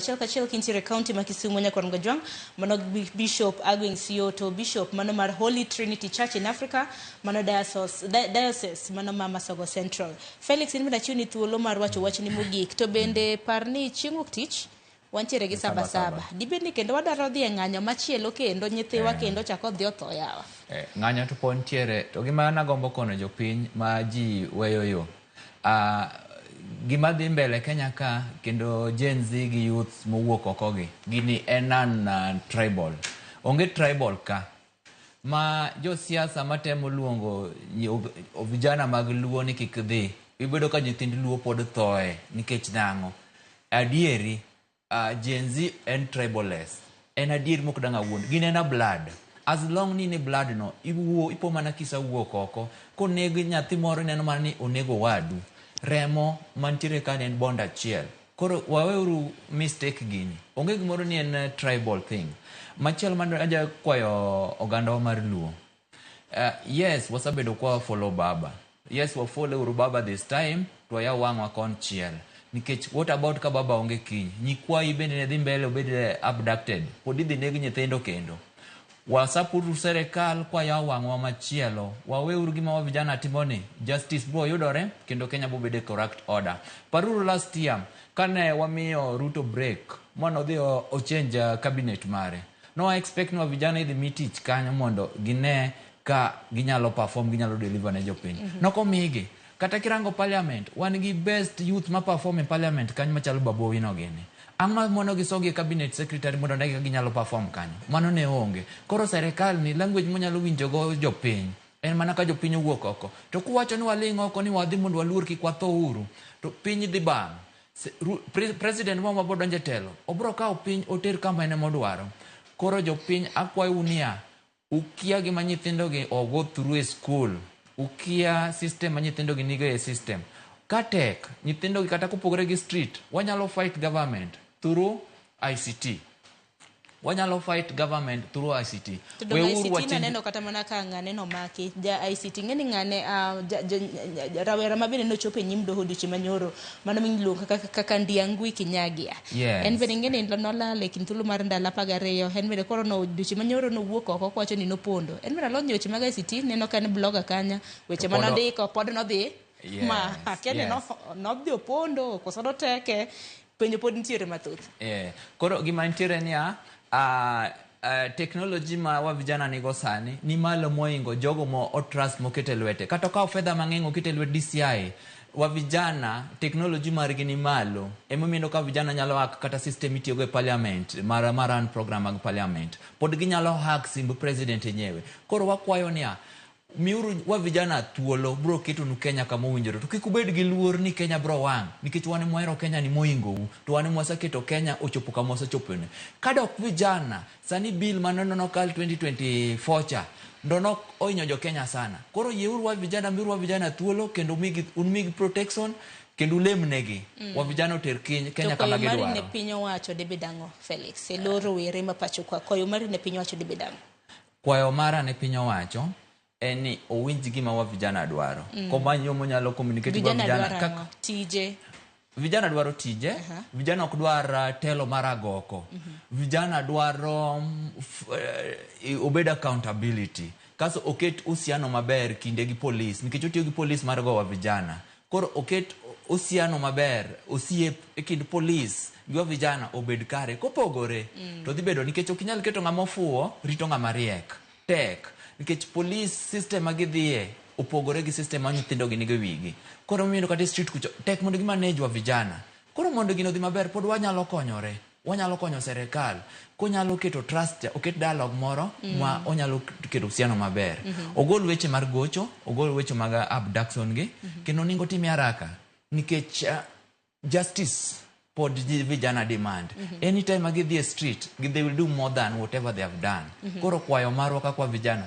achiel kachiel kintiere e kaunti ma Kisumu nyaka Rangajwang', mano Bishop Agweng' Sioto, Bishop mano mar Holy Trinity Church in Africa, mano diocese, di- diocese mano ma Masogo Central. Felix, in bende achiwni thuolo mar wacho wachni mogik, to bende par ni chieng' wuok tich wantiere gi saba saba. Dibed ni kendo wadwaro dhi e ng'anyo machielo kendo nyithiwa kendo chako odhi otho yawa. Eh, ng'anyo to pod ntiere to gima nagombo kono jopiny ma ji weyo yo Uh, gima dhi mbele Kenya ka kendo Gen Z gi youth mowuok oko gi gini en an uh, tribal. Onge tribal ka ma josiasa matemo luongo vijana mag Luo ni kik dhi. Ibedo ka nyithind Luo pod thoe nikech nang'o? Adieri Uh, Gen Z en tribalist. En adier mok dang' awuond. Gin en a blood. As long ni in e blood no, iwuo, ipo mana kisa wuok oko. Koneg nyathi moro ineno mana ni onego wadu. Remo mantiere ka en bond achiel. Koro waweuru mistake gini. Onge gimoro ni en tribal thing. Machielo man aja kwayo ogandawa mar Luo. Uh, yes, wasabedo kwa follow baba. Yes, wa follow uru baba this time to ya wang'wa kon chiel. Nikech what about ka baba onge kiny? Nyikwayi bende ne dhi mbele obed eh, abducted. Pod idhi neg nyithindo kendo. Wasapuru serikal kwa ya wang'wa machielo. Wawe uru gima wa vijana timoni. Justice bro yudore kendo Kenya bo bede correct order. Paruru last year kane wamiyo Ruto break mono dhi o- o change eh, cabinet mare. Nowa expect nwa vijana idhi mi tich kanyo mondo gine ka ginyalo perform, ginyalo deliver ne jopiny. Mm -hmm. Nokomigi. Kata kirango parliament, wan gi best youth ma perform e parliament kanyo machalo Babu Owino gini. Ang' ma mono gisogi e cabinet secretary mondo ne ginyalo perform kanyo. Mano ne onge. Koro serikal ni language monyalo winjogo jopiny en mana ka jopiny owuok oko. To kuwacho ni waling' oko ni wadhi mondo waluor kik watho uru, to piny dhi bang'. President wa mabiro donjo e telo obiro kawo piny oter kama en ema odwaro. Koro jopiny akwayou niya, ukia gima nyithindogi o go through e school, ukia system ma nyithindogi nigo e system. Ka tek, nyithindogi kata kopogore gi street, wanyalo fight government through ICT. Wanyalo fight government through ICT. To donge Weuru ICT wachenj- naneno kata mana ka ng'ane nomaki ja ICT ng'eni ng'ane ah, ja- ja- ja- rawera ma bende nochopo e nyim doho odiochieng' manyoro mano miluongo kaka, kaka Ndiangui Kinyagia Yes. en bende ng'eni nolal e kind thuolo mar ndalo apar gariyo en bende koro no odiochieng' manyoro nowuok oko kowacho ni nopondo en bende alonyo weche mag ICT neno ka en blogger kanya weche To ma pod o- nondiko pod nodhi Yes, ma akia ni yes. no- nodhi opondo koso noteke Penjo pod nitiere mathoth. Eh, koro gima nitiere niya, ah, ah, teknoloji ma wa vijana nigo sani ni malo moingo jogo mo otrust mokete lwete. Kata okawo fedha mang'eny okete lwet DCI, wa vijana teknoloji margi ni malo. Emomiyo ineno ka vijana nyalo hack kata system mitiyogo e parliament, mar, mar run program mag parliament. Pod ginyalo hack simb president enyewe. Koro wakwayo niya, Miuru wa vijana thuolo, bro ketonu Kenya kama owinjore. To kik ubed gi luor ni Kenya bro wang', nikech wan ema wahero Kenya ni mohingo u, to wan ema waseketo Kenya ochopo kama osechopeni. Kadok vijana, sani bill mane neno nokal 2024 cha, ndo nok ohinyo jo Kenya sana. Koro yie uru wa vijana, miuru wa vijana thuolo kendo umigi, unmigi protection, kendo ulemnegi. Mm. Wa vijana oter kiny, Kenya kama gidwaro. To koyo mari ne piny owacho debed ang'o, Felix? Eloro were ma pacho kwa, koyo mari ne piny owacho debed ang'o? Kwayo mara ne piny owacho en ni owinj gima wa vijana dwaro. Mm. Komany yo monyalo communicate go vijana kaka tije vijana dwaro tije uh -huh. vijana ok dwar uh, telo mar agoko uh mhm. -huh. vijana dwaro um, uh, obed accountability kaso oket usiano maber kinde gi polis nikech otiyo gi polis mar gowa vijana Koro oket osiano maber, osiep e kind polis gi wa vijana obed kare. Kopogore mm. to dhi bedo nikech ok inyal keto ng'ama ofuwo rito ng'ama riek. Tek. Nikech polis system ma gidhiye opogore gi system ma nyithindo gi nigo wigi. Koro miyendo kata e street kucho tek mondo gi manage wa vijana. Koro mondo gino dhi maber pod wanyalo konyore. Wanyalo konyo serekal konyalo keto trust, oket dialogue moro mm. ma onyalo keto usiano maber. Mm -hmm. Ogol weche mar gocho, ogol weche mag abduction gi, mm -hmm. kendo ningo time haraka nikech uh, justice pod vijana demand mm -hmm. anytime agidhi e street they will do more than whatever they have done mm -hmm. koro kwayo marwa kakwa vijana